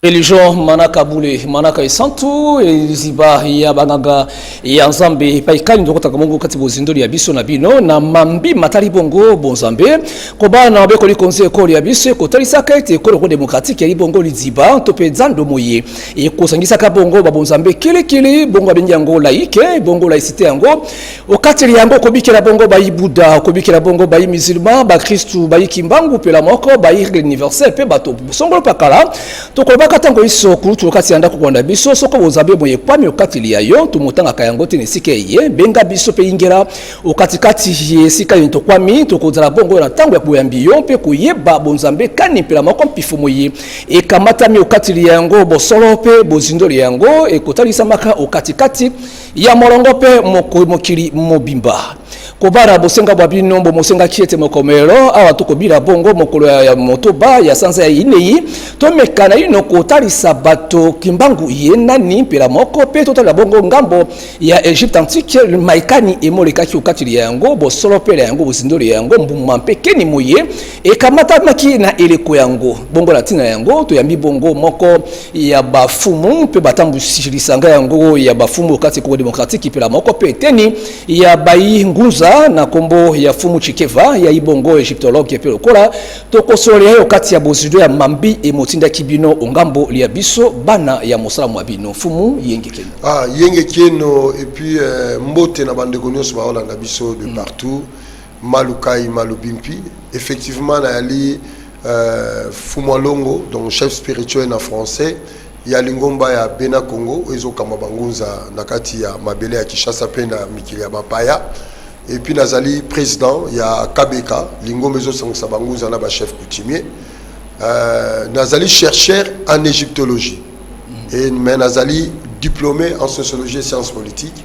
religion manaka bule manaka esantu liziba ya banganga ya nzambe epai kani tokotaka mongo kati bozindoli ya biso na bino na mambi matali bongo bonzambe kobala na mabekoli konzi ekolo ya biso ekotalisaka ete ekolo ko demokratike yali bongo liziba to mpe zando moye ekosangisaka bongo babonzambe kilikili bongo abengi yango laike bongo laisite yango okateli yango okobikela bongo bayi buda okobikela bongo bayi musulman bakristu bayi kimbangu mpela moko bayi règle universel mpe bato bosongolo pakala tokolobaka ntango iso kulutu okati ya ndako kolanda biso soko bozabi omoye ekwami okateli ya yo tomotangaka yango te na esika eye benga biso mpe ingela okatikati ya esika yeni tokwami tokozala bongo na ntango ya boyambi yo mpe koyeba bonzambe kani mpela moko mpifo moye ekamatami okateli ya yango bosolo mpe bozindoli yango ekotalisamaka okatikati kati ya molongo mpe mokili mobimba kobara bosenga bwa bino mbo mosengaki ete mokomelo awa tokobila bongo mokolo ya motoba ya sanza ya inei tomeka naino kotalisa bato kimbangu ye nani mpela moko mpe totalela bongo ngambo ya egypte antique maikani emolekaki okateli ya yango bosolo mpela yango bozindoli ya yango mbuma mpe keni moye ekamatamaki na eleko yango bongo na ntina yango toyambi bongo moko ya bafumu mpe batambwisi lisanga yango ya bafumu kati Congo demokratiki mpela moko mpe eteni ya bayi ngunza na nkombo ya fumu Chikeva ya ibongo egyptologue mpe lokola tokosolola yo kati ya bozido ya mambi emotindaki bino ongambo lya biso bana ya mosala mwa bino fumu yenge keno ah, yenge keno epuis eh, mbote na bandeko nyonso baolanda biso de mm. partout mm. Malu Kayi Malu Bimpi effectivement na yali Fumu Alongo donc chef spirituel na français ya lingomba ya Bena Kongo oyo ezo kamba ba ngunza na kati ya mabele ya Kinshasa mpe na mikili ya ba paya et puis na zali president ya KBK lingomba ezo sangisa ba ngunza na ba chef coutumier na zali chercheur en egyptologie et mais na zali diplome en sociologie et sciences politiques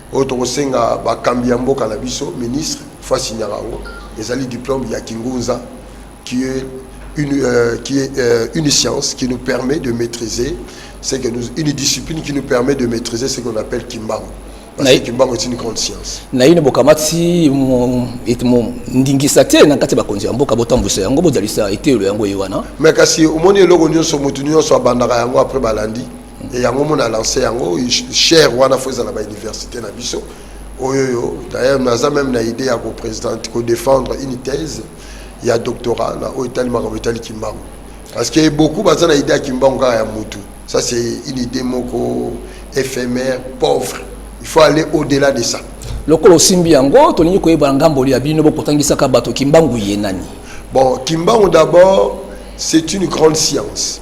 oyo tokosenga bakambi ya mboka na biso ministre fasi nyakango ezali diplome ya kingunza qui est une, euh, qui est, euh, une science qui nous permet de maîtriser ce que nous, une discipline qui nous permet de maîtriser ce qu'on appelle kimbangu parce que kimbangu est une grande science naino bokamati ndingisa te na kati ya bakonzi ya mboka botambwisa yango bozalisa eteyelo yango ye wana mais kasi omoni eloko nyonso motu nyonso abandaka yango après balandi yango mona lance yango cher wana fo ezala ba université na biso oyo yo d'ailleurs naza même na idée ya ko présidente ko défendre une thèse ya doctorat na oyo etali makambo etali kimbangu parce que beaucoup baza na idée ya kimbangu kaka ya mutu ça c'est une idée moko éphémère pauvre il faut aller au delà de ça lokola osimbi yango tolingi koyeba ngambo ya bino bokotangisaka bato kimbangu ye nani bon kimbangu d'abord c'est une grande science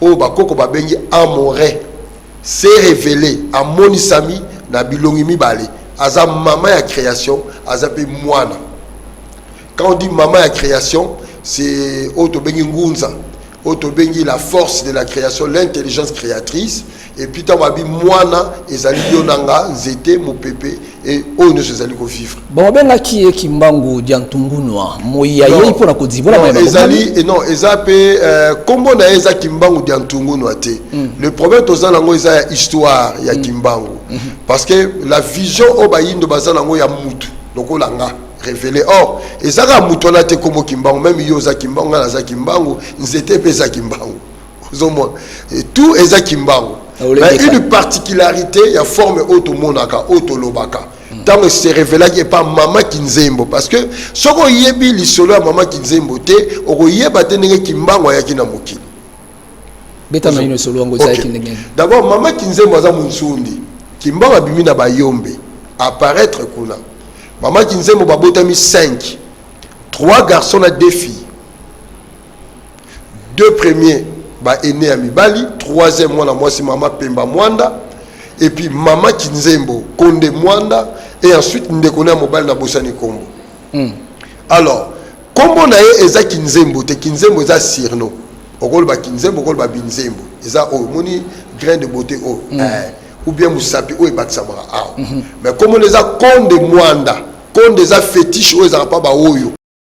oyo bakoko babengi Amore, s'est revelee, amonisami, na bilongi mibale, aza mama ya creation, aza mpe mwana. Quand on dit mama ya creation, c'est oyo tobengi ngunza, oyo tobengi la force de la creation, l'intelligence créatrice, Epuis ntango abi mwana ezali yo na nga nzete mopepe e oyo nyonso ezali kovivre babengaki ye kimbangu dia ntungunwa moi ya yei mpo na kodibonaezali eh, non eza mpe eh, nkombo na ye eza kimbangu dia ntungunwa te mm. le problème toza nango eza ya histoire ya mm. kimbangu mm -hmm. parce que la vision oyo bayindo baza nango ya mutu lokola nga révélé or ezaka mutu wana te nkombo kimbangu meme yo oza kimbangu ngai naza kimbangu nzete mpe eza kimbangu ozomona tout eza kimbangu mais une particularité ya forme oyo tomonaka oyo tolobaka ntango se révélaki epa mama kinzembo parce que soki oyebi lisolo ya mama kinzembo te okoyeba te ndenge kimbangu ayaki na mokili d'abord mama kinzembo aza monsundi kimbangu abimi na bayombe apparaître kuna mama kinzembo babotami 5 3 garçons na 2 filles deux premiers ba aînés ya mibali troisième mwana mwasi mama pemba mwanda et puis mama kinzembo konde mwanda et ensuite ndeko na ya mobali na bosani nkombo mm. alors nkombo na ye eza kinzembo te kinzembo eza sirno okoloba kinzembo okoloba binzembo eza oyo omoni grain de beauté oyo mm. eh, ou bien mosapi oyo ebakisamaka awa mm -hmm. mais nkombo na eza konde mwanda konde eza fétiche oyo ezalaka mpa baoyo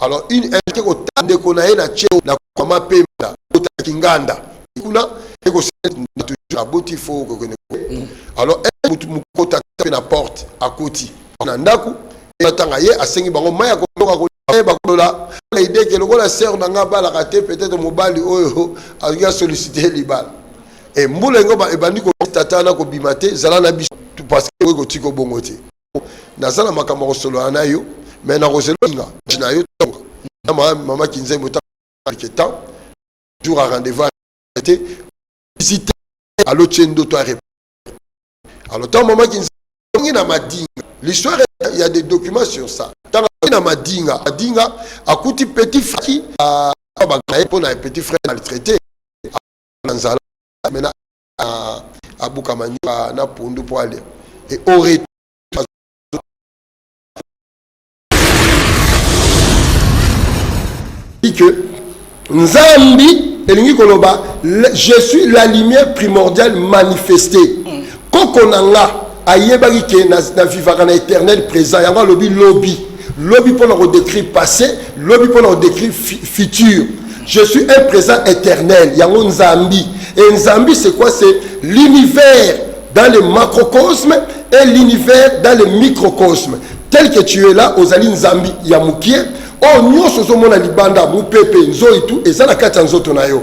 alors une invité ko tande ko na ye na cheo na kwa mapemba ko ta kinganda kuna et ko na toujours la boti faut ko kende mm. alors et mutu mukota pe na porte à koti na ndaku et atanga ye asengi bango maya ko loka ko eh, bakolola na idée ke lokola sœur na nga balaka te peut-être mobali oyo alingi asollicite libala e mbula yango ebandi kotata na kobima te zala na biso parce que okoki kotika obongo te naza na makambo ya kosolola na yo me nakozeloinga na yo tonga mama kinzembo ke temps jour a rendez-vous te visite alo tie ndoto a alors ntango mama kinzembo ongi na madinga l'histoire il y a des documents sur ça ntango akoki na madinga madinga akuti petit faki bagnaye mpo na petit frère maltraité na nzala mena abuka manioka na pondu mpo alia e au retour que nzambi elingi koloba je suis la lumière primordiale manifestée mm. koko na nga ayebaki ke na, na vivaka na éternel présent yango alobi lobi lobi mpo na kodécrire passé lobi mpo na kodécrire futur je suis un présent éternel yango nzambi et nzambi c'est quoi c'est l'univers dans le macrocosme et l'univers dans le microcosme tel que tu es là ozali nzambi ya mokie oyo oh, nyonso ozomona libanda mopepe nzoi tu eza na kati ya nzoto na yo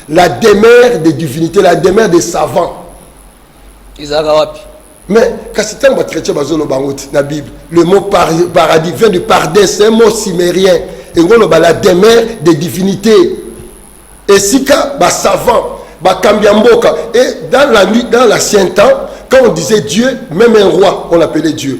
la demeure de divinité la demeure de savant ezalaka wapi mais kasi ntango bachrétien bazoloba yango ti na bible le mot par, paradis vient du pardin c'est un mot simérien engoloba la demeure de divinité esika basavant bakambi ya mboka et dans la nuit dans l'ancien temps quand on disait dieu même un roi on l'appelait dieu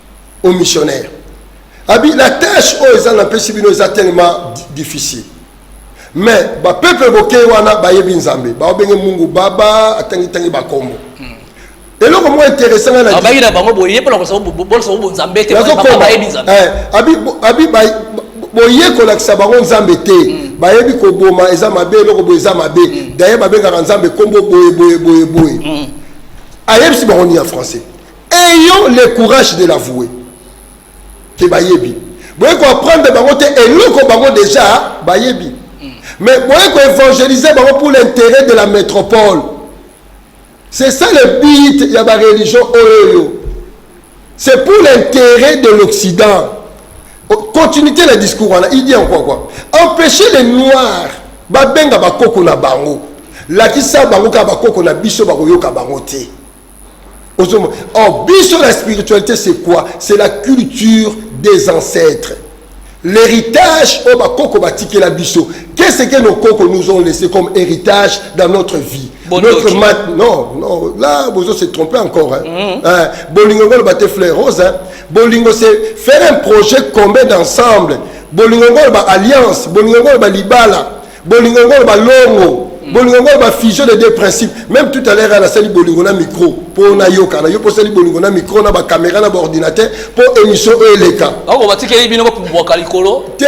au missionnaire abi la tâche oyo eza na pesi bino eza tellement difficile mais bapeuple bokei wana bayebi nzambe baobenge mungu baba atangitangi bakombo hmm. eloko moko interesse ngai nabayi na bango boye mpona kolakisa bango nzambe te bayebi nzambe eh, abi boye kolakisa bango nzambe te hmm. bayebi koboma eza mabe eloko boye eza mabe hmm. daye babengaka nzambe nkombo boye boye boye boye ayebisi bango nini ya français ayant le courage de l'avouer ke bayebi boye koapprendre bango te eloko bango deja bayebi mais boye koevangelize bango pour l'intérêt de la métropole c'est ça le but ya bareligion oyoyo c'est pour l'intérêt de l'occident oh, continuité na discours wana il dit encore quoi empêcher les noirs babenga bakoko na bango lakisa bango kaka bakoko na biso bakoyoka bango te ozomona or biso la spiritualité c'est quoi c'est la culture des ancêtres l'héritage oyo bakoko batikela biso qu'est ce que nos koko nous ont laissé comme héritage dans notre vie notre mat non non là bozo se tromper encore hein. Mm -hmm. hein, bolingo ngolo bate fleur rose hein. bolingo c'est faire un projet commun d'ensemble bolingo ngolo ba alliance bolingo ngolo ba libala bolingo yango oloba longo mm. bolingo yango oloba fusion de deux principes même tout à l'heure ana asali bolingo na micro mpo nayokana yo mpo osali bolingo na micro na bacaméra na baordinateur mpo émission oyo eleka ako batikeli bino bobwaka likolo te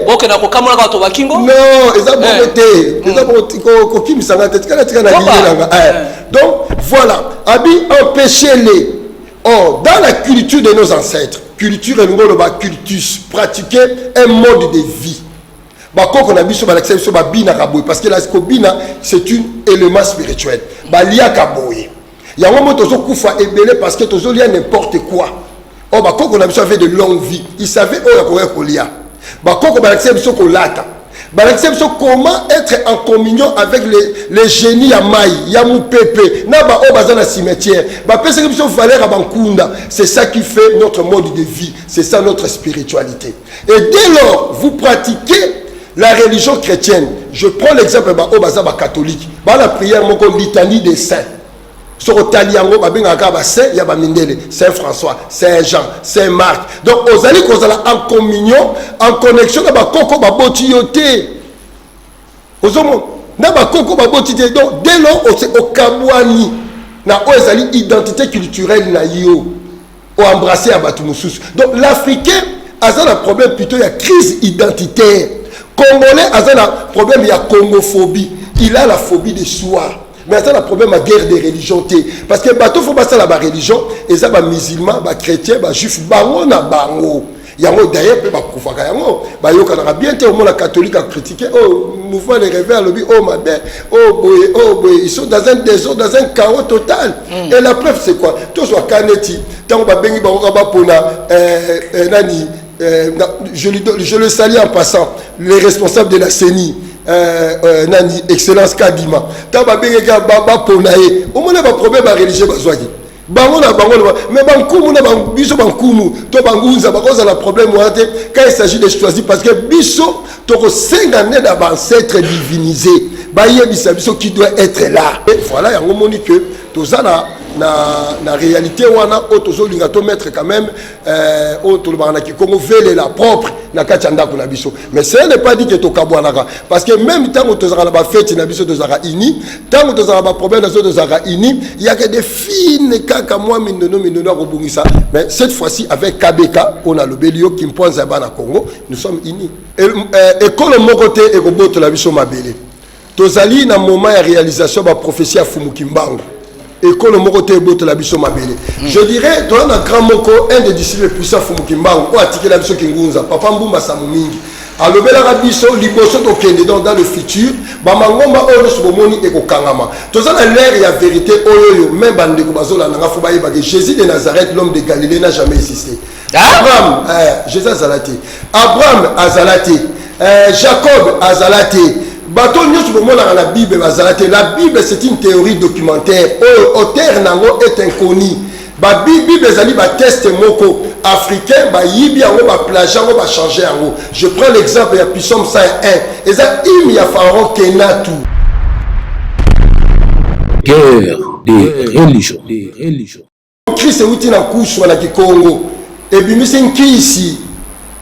bokenda kokamola bato bakingo non eza bongo eh. te mm. eza bongo kokimisa nga te tikala tika na liye nanga eh. eh. donc voilà abi empêcher les or dans la culture de nos ancêtres culture elingi oloba cultus pratiquer un mode de vie bakoko na biso balakisa biso babinaka boye parce que la kobina c'est une élément spirituel baliaka boye yango mo tozokufa ebele parce que tozolia n'importe quoi oyo oh, bakoko na biso avait de longue vie il savait oyo akoya kolia bakoko balakisa biso kolata balakisa biso comment être en communion avec les, les génie ya mai ya mopepe na baoyo baza na cimetière bapesaki biso valeur ya bankunda c'est ça qui fait notre mode de vie c'est ça notre spiritualité Et dès lors, vous pratiquez la religion chrétienne. Je prends l'exemple ba oyo baza ba catholique. Ba la prière moko litanie des saints. soki otali yango babengaka kaka basaint ya bamindele saint françois saint jean saint marc donc ozali kozala en communion en connexion na bakoko baboti yo te ozomona na bakoko baboti te donc dès lors okabwani na oyo ezali identité culturelle na yo o embrasser ya bato mosusu donc l'africain aza na problème plutôt ya crise identitaire congolais aza na problème ya congophobie il a la phobie de soi mais aza na problème ya guerre de religion te parce que bato fo basala bareligion eza bamusulman bachrétien bajuif bango na bango yango daye mpe bakufaka yango bayokanaka bien te omona catholique akritike o oh, mouvement de reve alobi o oh, mabe o oh, boye o boye ils sont dans un désordre dans un chaos total mm. et la preuve c'est quoi tozwa ka neti ntango babengi bango ka bapona eh, eh, nani eh, je, je le sali en passant les responsables de la ceni Euh, euh, nani excellence kadima ntango babengaki bapona ye omona baproblème ya religieux bazwaki bango na bango loba mais bankumu na biso bankumu to bangunza bakozala problème wana te quand il s'agit de choisir parce que biso tokosenga nde na baancetre divinise bayebisa biso qui doit être là et voilà yango omoni que toza na na, na réalité wana oyo tozolinga to mettre quand même Euh, oyo tolobaka na kikongo velela propre na kati ya ndako na biso mais ce n'est pas dit que tokabwanaka parce que même ntango tozalaka na bafeti na biso tozalaka uni ntango tozalaka baproblème na biso tozalaka uni yaka de fine kaka mwa mindono mindono ya kobongisa mais cette fois-ci avec kbk oyo nalobeli yo kimpoanza ya bana congo nous sommes unis ekolo euh, moko te ekobotola biso mabele Tozali na moment ya realisation ba prophetie ya Fumu Kimbangu. Ekolo moko te ebotola biso mabele. Mm. Je dirais toi na grand moko un des disciples puissants Fumu Kimbangu o atikela biso kingunza papa Mbumba Samu mingi. alobelaka biso liboso tokende donc dans le futur bamangomba oyo nyonso bomoni ekokangama toza na lere ya verité oyo oyo me bandeko bazolanda nga fo bayebake jésus de nazareth l'homme de galilée na jamais existe abraham eh, jesus azala te abraham azala te eh, jacob azala te bato nyonso bomonaka na bible bazala te la bible c'est une théorie documentaire oyo auteur na yango est inconnu babible ezali bateste moko africain bayibi yango baplage yango bachange yango je prends l'exemple ya pisome 101 eza hime ya pharaon kenatu guerre des religions mokristo euti na kuswa na kikongo ebimisi nkisi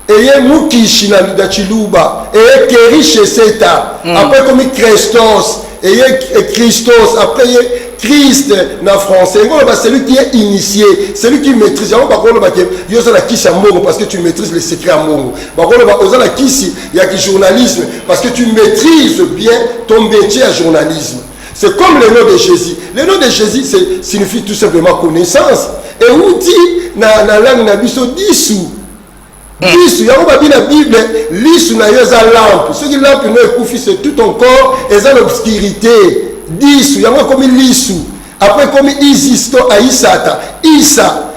eye mukishi na, na chiluba eye kerishe seta mm. apres ekomi krestos eye kristos apres ye christ na français yango oloba celui qui est initié celui qui maîtrise yango bakoloba ke yo oza na kisi ya mbongo parce que tu maîtrise le secret ya mbongo bakoloba oza na kisi ya kijournalisme parce que tu maîtrise bien ton métier ya journalisme C'est comme le nom de Jésus. Le nom de Jésus signifie tout simplement connaissance. Et où dit dans la langue na biso dissous. Hmm. Dissous, yango babi la Bible, lisu na yo eza lampe. Soki lampe no ekufi c'est tout ton corps eza l'obscurité. Dissous, yango ekomi lisu. Après ekomi Isis to Aïsata. Isa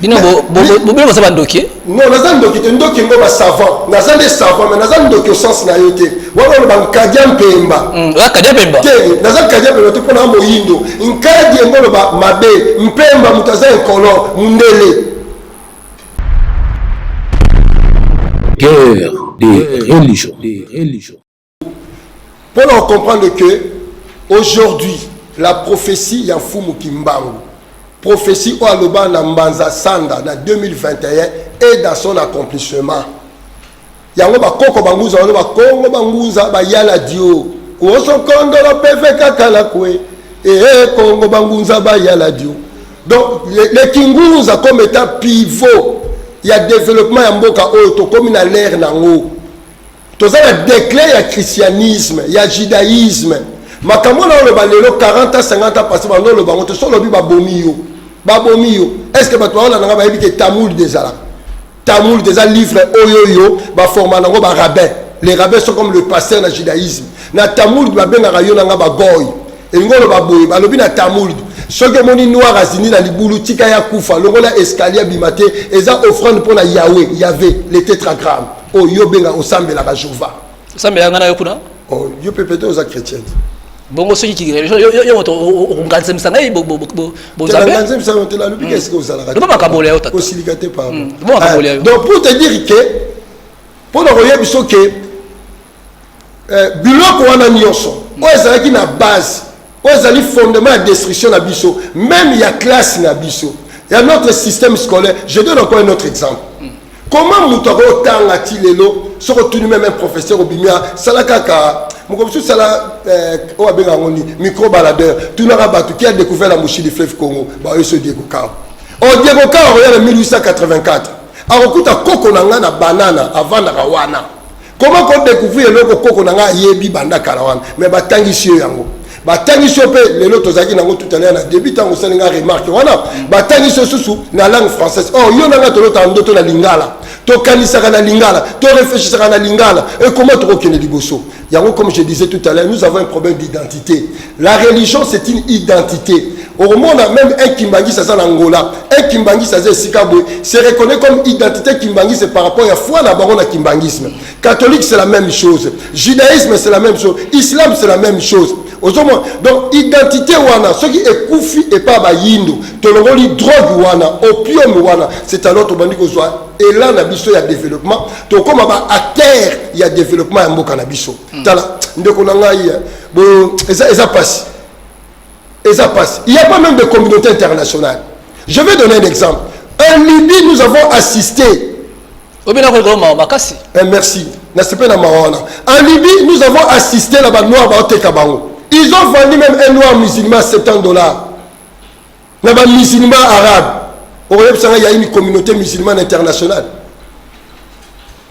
bino bobele boza bandoki non naza ndoki te ndoki ngo basavant naza nde savant mai naza ndoki osense na yo te wana oloba nkadia mpemba hmm, kadia mpemba te naza nkadia mpemba te mpo na moyindo nkadi yango oloba mabe mpemba moto aza enkolo mondele guerre des religions mpo na ocomprendre que aujourd'hui la prophétie ya mfumu kimbangu prophétie oyo aloba na mbanza sanda na 2021 et dans son accomplissement yango bakoko bangunza wana bakongo bangunza bayala dio kuosokondolo peve kaka na kue ee kongo bangunza bayala dio donc le, le kingunza comme étant pivot ya développement ya mboka oyo tokomi na lere na yango toza na declin ya christianisme ya judaïsme makambo na oloba lelo 40 ans 50 ans passé bando oloba yango te so olobi babomi yo babomi yo est ce que bato baolanda nga bayebi te tamoul dezalaka tamoul deza livre oyo yo baforma nango barabin les rabbins sont comme le pasteur na judaïsme na tamoul babengaka yo na nga bagoy elingi oloba boye balobi na tamoul soki omoni noir azindi na libulu tika ya kufa longola escalier abima te eza offrande mpo na yawe yave le tetragramme oyo yo obenga osambelaka jova osambelaka ngai na yo kuna oh, yo mpe pete oza chrétienne bongo soki yo moto okonganzemisa ngai bozambeganzemisa yo te nalobi ke esika ozalakaloba makambo ya yo tata osilika te pardon mm, loba makambo ya yo ah, donc pour te dire ke mpo na koyebiso ke eh, biloko wana nyonso oyo ezalaki na base oyo ezali fondement ya destruction na biso meme ya classe na biso ya notre système scolaire je donne encore un autre exemple comment moto akotanga ti lelo soki otuni meme un professeur obimi asala kaka moko mosusu sala eh, oyo abenga yango nini micro baladeur tunaka bato ki a découvert la mouchi du fleuve congo baoyo so diego kawa o oh, diego kawa akoya na 1884 akokuta koko na ngai na banana avandaka wana Comment ko découvrir eloko koko na nga ayebi banda kala wana mais batangisi yo yango batangisi yo mpe lelo tozalaki nango tout à l'heure na début ntango osali nga remarque wana batangisi yo susu na langue française or yo na nga tolotaka ndoto na lingala tokanisaka na lingala toreflechisaka na lingala ekoma tokokende liboso yango comme je disais tout à l'heure nous avons un problème d'identité La religion c'est une identité. Au monde, même un Kimbanguis ça en Angola, un Kimbanguis ça Sikabwe, se reconnaît comme identité Kimbanguis c'est par rapport à foi la baronne Kimbanguisme. Catholique c'est la même chose, judaïsme c'est la même chose, islam c'est la même chose. ozomona donc identité wana soki ekufi epa bayindo tolongoli drogue wana opium wana c'est alors tobandi kozwa elan na biso ya développement tokóma ba acteur ya développement ya mboka na biso tala ndeko na ngai eza, eza pasi eza pasi il y a pas même de communauté internationale je vais donner un exemple en libye nous avons assisté obina kolikola mawa makasi eh, merci nasepeli na mawa wana en libye nous avons assisté na banoir baoteka bango ils ont vendu même un noir musulman 70 dollars na bamusulman arabe okoyebisa ngai yaini communauté musulmane internationale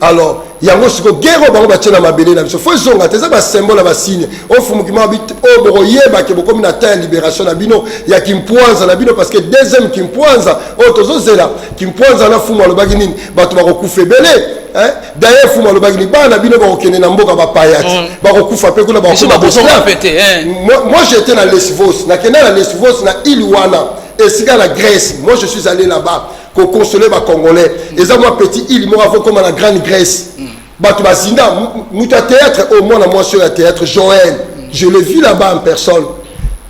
alors yango siko gere oyo bango batye na mabele na biso fo ezonga te eza basymbole ya basigne ofumuki mabi oyo oh, bokoyeba ke bokomi na temps ya libération na bino ya kimpwanza na bino parce que deuxième kimpwanza oyo oh, tozozela kimpwanza na fumu alobaki nini bato bakokufa ebele daye fumu alobaki nini bana bino bakokende na mboka bapayati mm. bakokufa mpe kuna bakokoma eh. moi j'étais na lesvos nakenda na lesvos na ile wana esika na grèce moi je suis allé là-bas ko consoler ba congolais eza mwa petit île moko faut comme la grande grèce bato bazinda moto ya théâtre oyo mwana mwasi oyo ya théâtre joël je le vis là-bas en personne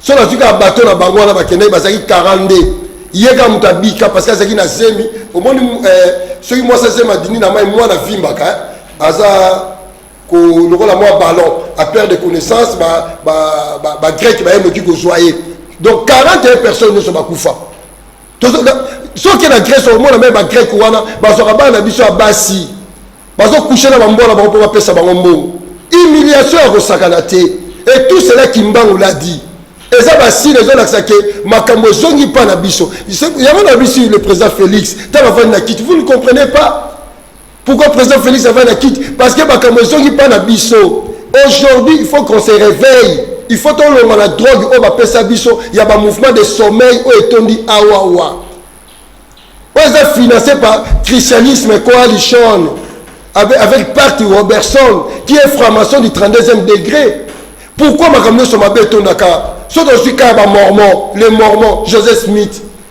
so nazwi kaka bato na bango wana bakendaki bazalaki 42 ye kaka moto abika parce que azalaki na zemi omoni eh, soki mwasi azemi adindi na mai mwana avimbaka eh, aza lokola mwa ballon aperte de connaissance bagreke baye noki kozwa ye donc 41 personnes nyonso bakufa soki na grèce omona meme bagreke wana bazwaka bana na biso ya basi bazokushe na bambo na bango mpo bapesa bango mbongo humiliation ya kosakana te et tout cela kimbangu l'a dit eza basile ezolakisa ke makambo ezongi mpa na biso yango na biso le président félix ntango afandi na kiti vous ne comprenez pas Pourquoi président Félix avait la quitte Parce que makambo ezongi pas na biso. Aujourd'hui, il faut qu'on se réveille. Il faut tolonga la drogue oyo bapesa biso ya ba mouvement de sommeil oyo etondi awawa. Oyo eza financé par christianisme coalition avec, avec Parti Robertson qui est franc-maçon du 32e degré. Pourquoi makambo nyonso mabe etondaka soki ozwi kaka bamormon le mormon joseph smith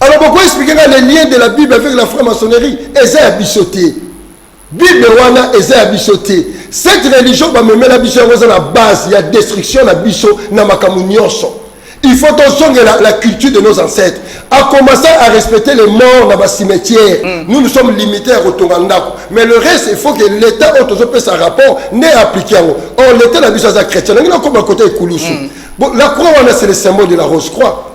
alors boko expliquer nga le lien de la bible avec la franc-maçonnerie eza ya biso te bible wana eza ya biso te cette religion bamemela biso yango eza na base ya destruction na biso na makambo nyonso il faut tozongela la culture de nos ancêtres a commencé à respecter les morts na bacimetière mm. nous nous sommes limité ya kotonga ndako mais le reste il faut que l'état oyo tozopesa rapport nde applique yango or l'état na biso aza chrétien nangi nakoma kota ekulusu mm. la croix wana c'est le symbole de la rose croix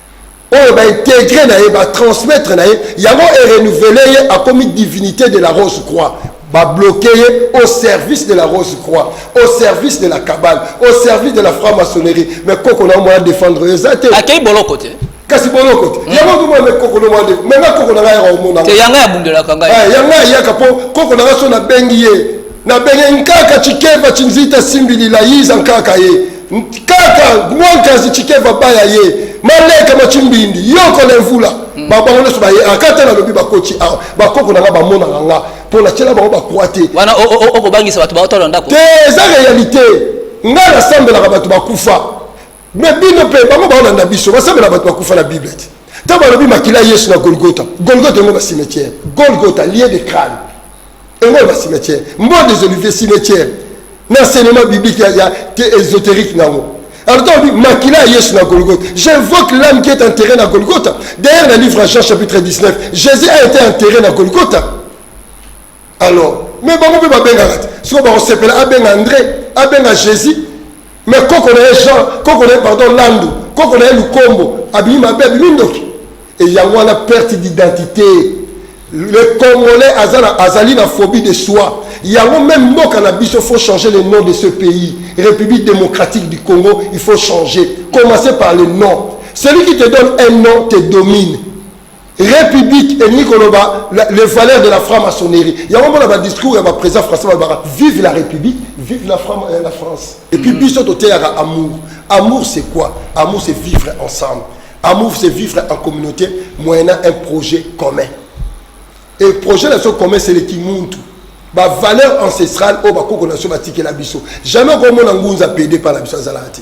oyo ba integre na ye ba transmettre na ye yango e renouveler ye akomi divinité de la rose croix ba bloquer ye au service de la rose croix au service de la cabale au service de la franc maçonnerie mais koko na mwana défendre yo eza te akei boloko te kasi boloko te hmm. yango komona me koko nomwana de me nga koko na ngai yaka omona te yanga abundelaka ngai eh, yanga ayaka mpo koko na ngai so nabengi ye nabengi nkaka cikeva cinzita simbilila yiza nkaka ye kaka mwankazi chikeva baya ye maleka machimbindi yoko na mvula hmm. babango nyonso baye akata nalobi bakoti awa bakoko nanga bamonaka nga mpo natyela bango bakwa te wana okobangisa bato baotala ndako te eza réalité nga nasambelaka bato bakufa me bino mpe bango baolanda biso basambela bato bakufa na bible te ntango balobi makila yesu na golgota golgota yango basimetiere golgota lie de crane Ewe ba cimetière. Mbo des oliviers cimetière. Na enseignement biblique ya, ya ésotérique nango. Alors toi on dit makila ya Yesu na Golgotha. J'invoque l'âme qui est enterrée na Golgotha. D'ailleurs le livre Jean chapitre 19, Jésus a été enterré na Golgotha. Alors, mais bango mpe babengaka te. Soko bakosepela abenga André, abenga Jésus, Mais koko na ye Jean, koko na ye pardon Landu, koko na ye Lukombo abimi mabe, abimi ndoki. Et yango wana perte d'identité. Le Congolais aza na, azali na phobie de soi. Yango même mboka na biso faut changer le nom de ce pays. République démocratique du Congo, il faut changer. Commencer par le nom. Celui qui te donne un nom te domine. Republique elingi koloba les valeurs de la franc-maçonnerie. Yango mona ba discours ya ba président français balobaka vive la République, vive la, Fran euh, la France. Et puis mm. biso toteyaka amour. Amour c'est quoi Amour c'est vivre ensemble. Amour c'est vivre en communauté moyennant un projet commun. Et le projet de ce commun c'est le kimuntu. Ba valeur ancestrale au bakoko na so batikela biso. Jamais okomona ngunza pede par la biso azalaka te.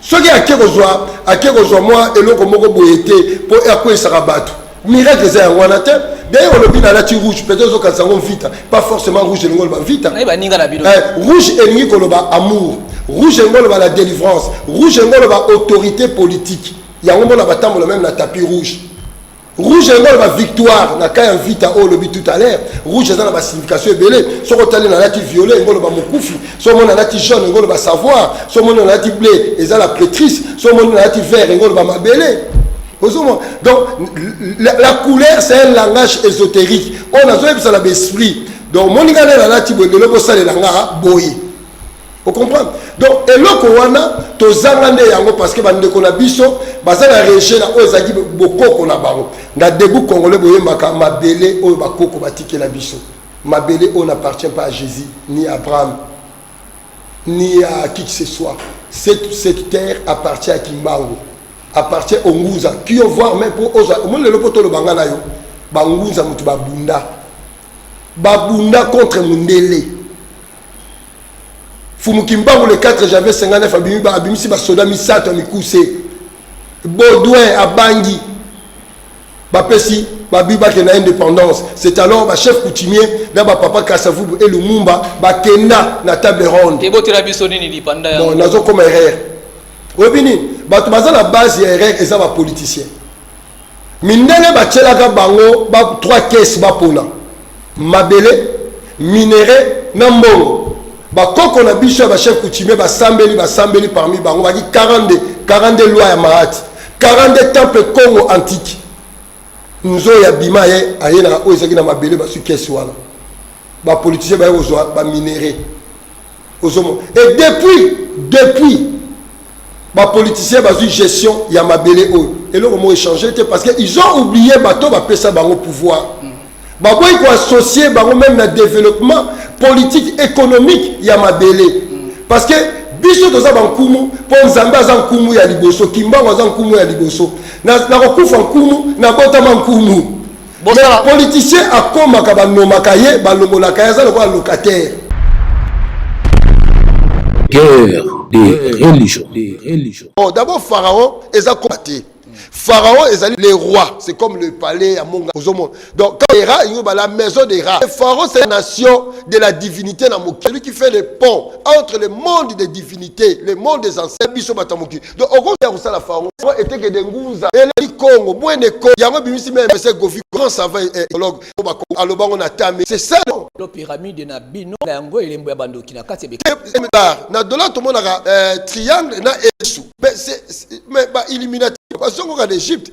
soki ake kozwa ake kozwa mwa eloko moko boye te mpo akweisaka bato miracle eza yango wana te d'ailleurs olobi nalati rouge peut ozokanisa yango mvita pas forcément rouge elingi oloba mvita eh, rouge elingi koloba amour rouge elingi oloba la délivrance rouge elingi oloba autorité politique yango mona batambola meme na tapis rouge rouge yango aloba victoire na cas ya vita oyo olobi tout à l'heure rouge aza na basignification ebele soki otali na lati violet yango oloba mokufi so omoni na lati jaune yango oloba savoir so omoni na lati bleu eza la prêtrise so omoni na lati vert yango oloba mabele ozomona donc la, la couleur c'est un langage ésotérique oyo nazoyebisa na baesprit donc omoni ngai nde nalati boye lelo bosalela nga boye o comprendre donc eloko wana tozanga nde yango parce que bandeko na biso baza na rejet na oyo ezalaki bokoko na bango na debout congolais boyembaka mabele oyo bakoko batikela biso mabele oyo n'appartient pas à jésus ni à abraham ni à qui que ce soit cette, cette terre appartient à kimbangu appartient au nguza qui voir même mpo ozwa omoni lelo mpo toloba nga na yo bangunza moto babunda babunda contre mondele fumu kimbangu le 4 janvier 59 abimi ba abimisi basoda misato ya mikuse baudouin abangi bapesi babi bake na indépendance c'est alors bachef coutumier na bapapa kasavubu e lumumba bakenda na table ronde ebotela biso nini lipanda bon nazokoma erreur oyebi nini bato baza na base ya erreur eza bapoliticien Mindele batielaka bango ba trois caisses bapona mabele, minerais na mbongo. Ba koko na biso ya ba chefs coutumiers basambeli basambeli parmi bango baki 42 42 lois ya Mahati, 42 temples Congo antique. Nzoyi abima ye aye na oyo ezalaki na mabele bazwi caisse wana. Ba politiciens baye kozwa ba minerais. ozomona et depuis depuis bapoliticien bazwi gestion ya mabele oyo eloko moko echange te parce que ils ont oublié bato bapesa bango pouvoir baboyi koassocie bango meme na développement politique économique ya mabele parce que biso toza bankumu mpo nzambe aza nkumu ya liboso kimbango aza nkumu ya liboso nakokufa nkumu nabotama nkumu Bosala politicien akomaka banomaka ye balongolaka ye aza lokola locataire. Guerre des religions. Oh, d'abord Pharaon eza koma te. Pharaon ezali le roi, c'est comme le palais ya monga ozomona. Donc quand les rats ils la maison des rats. Pharaon c'est la nation de la divinité na mokili qui fait le pont entre le monde des divinités, le monde des ancêtres biso batamoki. donc okoki ya kosala fango eteke de ngunza eleki kongo bwene ko yango ebimisi meme se gofi grand savant ecologue po bako aloba ngo na tame c'est ça non lo pyramide na bino na yango elembo ya bandoki na kati ebeka na dollar tomonaka euh, triangle na esu mais c'est mais ba illuminati bazongoka na egypte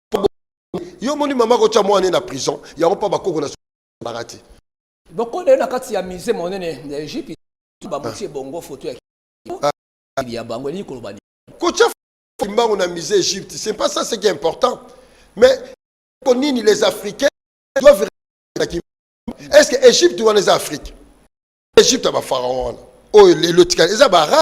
yo moni mama kotya mwana ye na prison yango mpa bakoko na zalaka te boko na ye na kati ya musée monene ya egypte babuti ebongo foto ya ya bango elingi koloba kotya kimbangu na musée egypte c'est pas ça ce qui est important mais ko nini les africains doivent est ce que egypte wana eza afrique egypte ya bapharaon wana oyo lelo etikali eza baarabe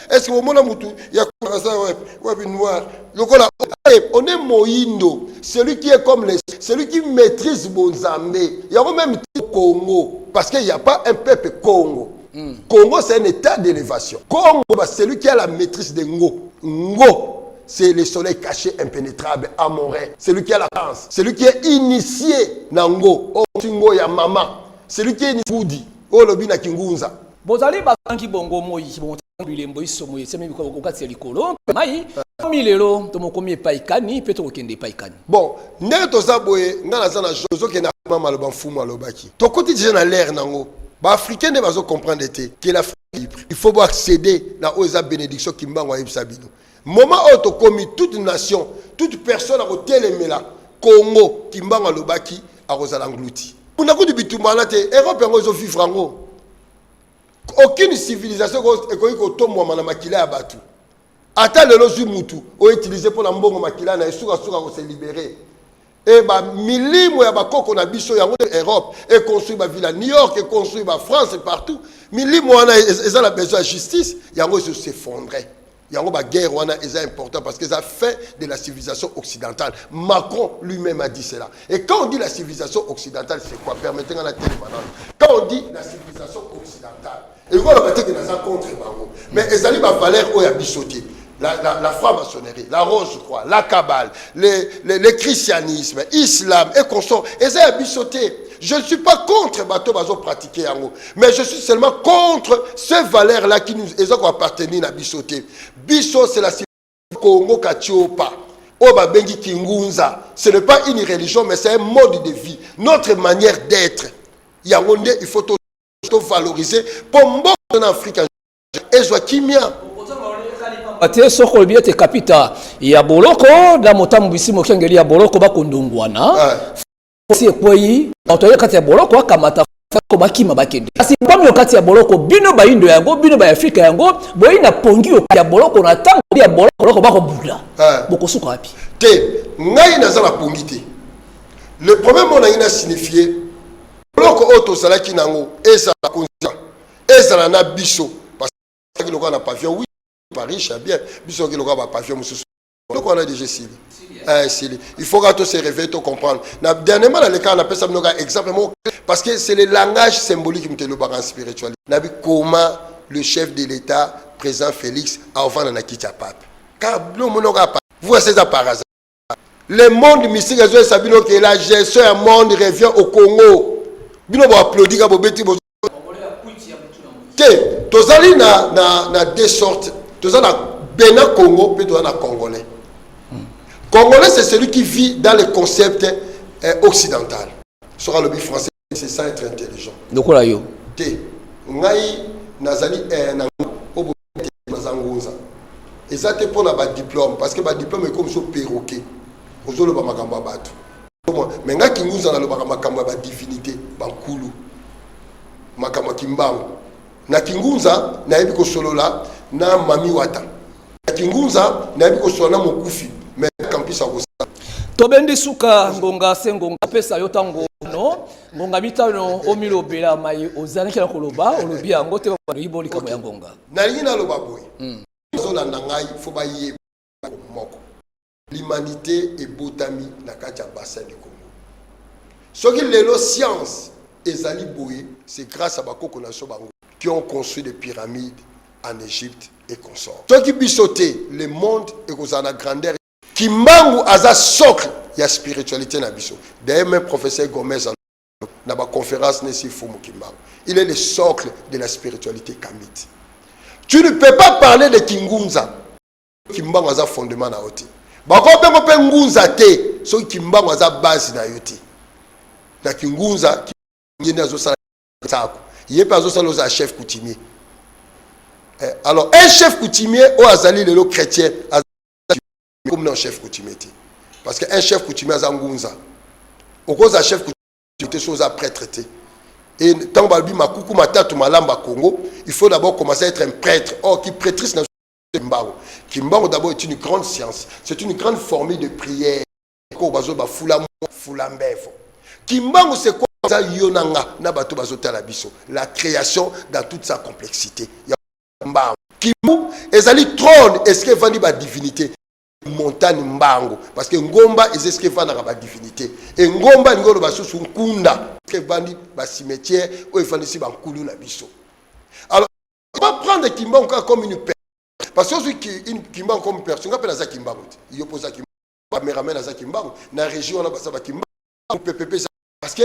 Est-ce que omona mutu ya kasa wapi wapi noir lokola on est moindo celui qui est comme les celui qui maîtrise bonzambe yango même Congo parce qu'il n'y a pas un peuple Congo mm. Congo c'est un état d'élévation Congo bah, celui qui a la maîtrise de ngo ngo c'est le soleil caché impénétrable amoré celui qui a la chance celui qui est initié nango oh, ngo ya mama celui qui est initié olobi na kingunza bozali bakangi bongo moi bilembo iso moye esemi okati ya likolo mpe mai tomi lelo tomokomi epai kani mpe tokokende epai kani bon ndenge toza boye ngai naza na jo ozokende akoma maloba mfumu alobaki tokoti deja na lere nango baafricain nde bazocomprendre te ke l'afrique libre il faut boaccéder na oyo eza bénédiction kimbango ayebisa bino Moment oyo tokomi toute nation, toute personne akotelemela Congo Kimbangu alobaki akozala ngluti. Kuna kutu bitumba wana te, Europe yango ezo vivre yango. Aucune civilisation ekoki kotombwama na makila ya batu. Ata lelo zwi mutu o utiliser pona mbongo makila na ye suka suka ko se libérer. Et ba milimo ya bakoko na biso yango nde Europe e construire ba villa New York e construire ba France et partout milimo wana eza na besoin ya justice yango ezo s'effondrer yango ba guerre wana eza important parce que eza fin de la civilisation occidentale Macron lui-même a dit cela et quand on dit la civilisation occidentale c'est quoi permettez nga na telema nanu quand on dit la civilisation occidentale elingi oloba te ke naza contre bango mais ezali bavaleur oyo ya biso te la, la, la franc-maçonnerie, la rose croix, la cabale, le, le, le christianisme, islam et consort, eza ya biso te. Je ne suis pas contre bateau bazo pratiquer yango, mais je suis seulement contre ces valeurs là qui nous eza ko appartenir na biso te. Biso c'est la Congo Katiopa. oyo babengi kingunza ce n'est pas une religion mais c'est un mode de vie notre manière d'être yango nde il faut to valoriser mpo mboka na afrika ezwa kimia te soko olobi ete kapita ya boloko na motambwisi mokengeli ya boloko bakondongwana si ekwei bato ya kati ya boloko akamata ko bakima bakende kasi mpami yo kati ya boloko bino bayindo yango bino ba afrika yango boyei na pongi yo ya boloko na ntango ya boloko bakobula bokosuka wapi te ngai naza na pongi te le problème oyo nangi na signifie boloko oyo tozalaki na yango ezala bakonzi ezala na biso pasaki lokola na pavion wi paris ya bien biso oki lokola bapavion mosusu eloko wana deja esili esili eh, il faut ka to se réveiller to comprendre na dernièrement na lekaka napesa bino ka exemple moko parce que c'est le langage symbolique moto elobaka en spiritualité na bikoma le chef de l'état président félix aovanda na kiti ya pape car bino omonaka vous voyez ça par hasard le monde mystique ezoyesa bino ke la gestion ya monde revient au congo bino boaplaudi ka bobeti bo te tozali na, na, na deux sortes toza na bena congo mpe toza na congolais congolais c'est celui qui vit dans le concept eh, occidental soki alobi français c'est ça être intelligent lokola yo te ngai nazali eh, na obo naza ngunza eza te mpo na badiplome parce que badiplome ekomi so perroquet ozoloba makambo ya bato me ngai kingunza nalobaka makambo ya badivinité bankulu makambo ya kimbangu Na kingunza nayebi kosolola na mami wata. Na kingunza nayebi kosolola na mokufi mais kampisa kosala. Tobendi suka ngonga se ngonga pesa yo tango no ngonga mitano omilobela mai ozalaki na koloba olobi yango te baloyi bo likambo ya ngonga. Nalingi naloba boye. Hmm. Bazolanda ngai fo bayeba moko. L'humanite ebotami na kati ya bassin du Congo. Soki lelo science ezali boye, c'est grâce à bakoko na biso bango qui ont construit des pyramides en Égypte et consorts. Soki biso te, le monde ekozala na grandeur. Kimbangu aza socle ya spiritualité na biso. D'ailleurs, même professeur Gomez na ba conférence nesi Fumu Kimbangu. Il est le socle de la spiritualité kamite. Tu ne peux pas parler de Kingunza kimbangu aza fondement na yo te bakobengo mpe ngunza te soki kimbangu aza base na yo te na kingunza ye nde azosala sako ye mpe azosala oza chef coutumier eh, alors un chef coutumier oyo azali lelo chrétien comme na chef coutumier te parce que un chef coutumier aza ngunza okozala chef coutumier te so oza prêtre te e ntango balobi makuku matatu malamba congo il faut d'abord commencer à être un prêtre or ki prêtrise na Kimbangu. Kimbangu d'abord est une grande science, c'est une grande formule de prière. Ko bazo ba fula mo fula mbevo. Kimbangu c'est quoi ça yonanga na bato bazo tala biso. La création dans toute sa complexité. Ya Kimbangu. Kimbangu ezali trône est-ce que vandi ba divinité montagne mbango parce que ngomba eza eske efandaka badivinité e ngomba alingi oloba susu nkunda eske efandi bacimetière oyo efandisi bankulu na biso alors Pas prendre Kimbangu kaka comme une perte. Parce que ozwi ki- une- Kimbangu comme perte, nga mpe naza Kimbangu te. Yo mpe oza Kimbangu. Cameraman aza Kimbangu, na région wana baza ba Kimbangu, PPP eza- parce que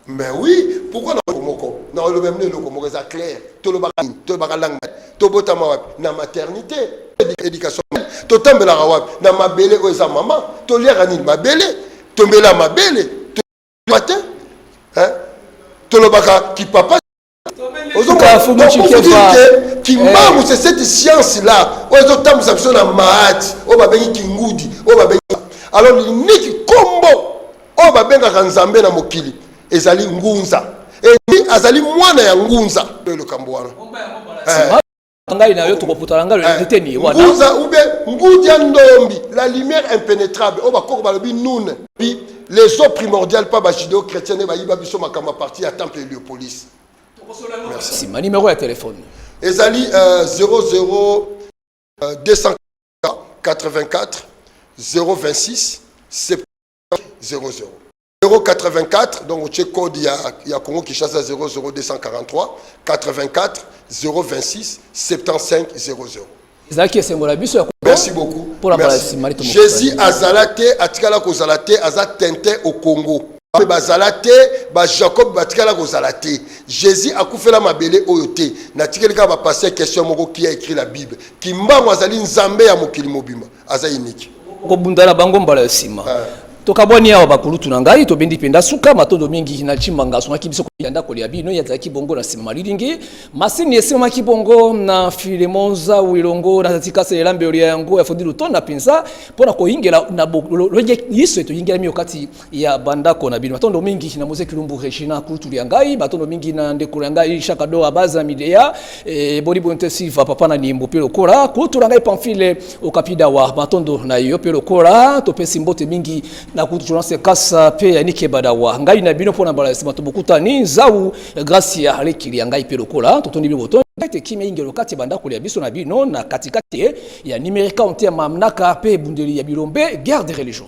mais oui, pourquoi na eloko moko na oloba mino eloko moko eza clair tolobaka nini tolobaka langue nani? tobotama wapi na maternité Édu- éducation totambelaka wapi na mabele oyo eza mama toliaka nini mabele tombela mabele to- te Hein? tolobaka kipapa kimbangu c'est cette science là oyo ezotambwisa biso na maati oyo babengi kingudi oyo babengi alors liniki kombo oyo babengaka nzambe na mokili ezali ngunza eni azali mwana ya ngunza oyo likambo wana ngai na yo tokoputana ngai na eh, teni wana nguza ube ngudia ndombi la lumière impénétrable oyo bakoko balobi nune puis les eaux primordiales pas bajudeo chrétien nde bayiba biso makambo ya parti ya temple heliopolis nsima nimero ya telefone ezali 00 284 026 70 084 donc otie code ya, ya congo kinshasa 00243 84 026 75 00 ezalaki esengo na biso ya merci beaucoup mpo na bala nsima jésus azala te atikala kozala te aza tintin au congo mpe bazala te bajacob batikala kozala te jésus akufela mabele oyo te natikeli kaka bapaster question moko qui a écrit la bible kimbangu azali nzambe ya mokili mobimba aza unique kobunda na bango mbala ya sima ah. tokabwani awa bakulutu na ngai tobendi mpenza suka matondo mingi na cimanga asungaki biso ya ndako ya bino ye azalaki bongo na nsima malilingi masini esimamaki bongo na filemon zau elongo na zatikasa elambelo ya yango ya fodi lutona mpenza mpo na koyingela na liso etoyingelami yo kati ya bandako na bino matondo mingi na mose kilumbu regina kultulu ya ngai matondo mingi na ndeko ya ngai shaka do abaza midea e, boni bonte silva papa na nimbo mpe lokola kultulu ya ngai pamfile okapidawa matondo na yo mpe lokola topesi mbote mingi na kultu jonas kasa mpe ya nike badawa ngai na bino mpo na mbala ya nsima tobokutani nzau gracia alekili ya ngai mpe lokola totondi bino botondi ete kimia ingelo kati ya bandako ya biso na bino na katikati ya nimerika onte ya mamnaka mpe ebundeli ya bilombe guerre de religion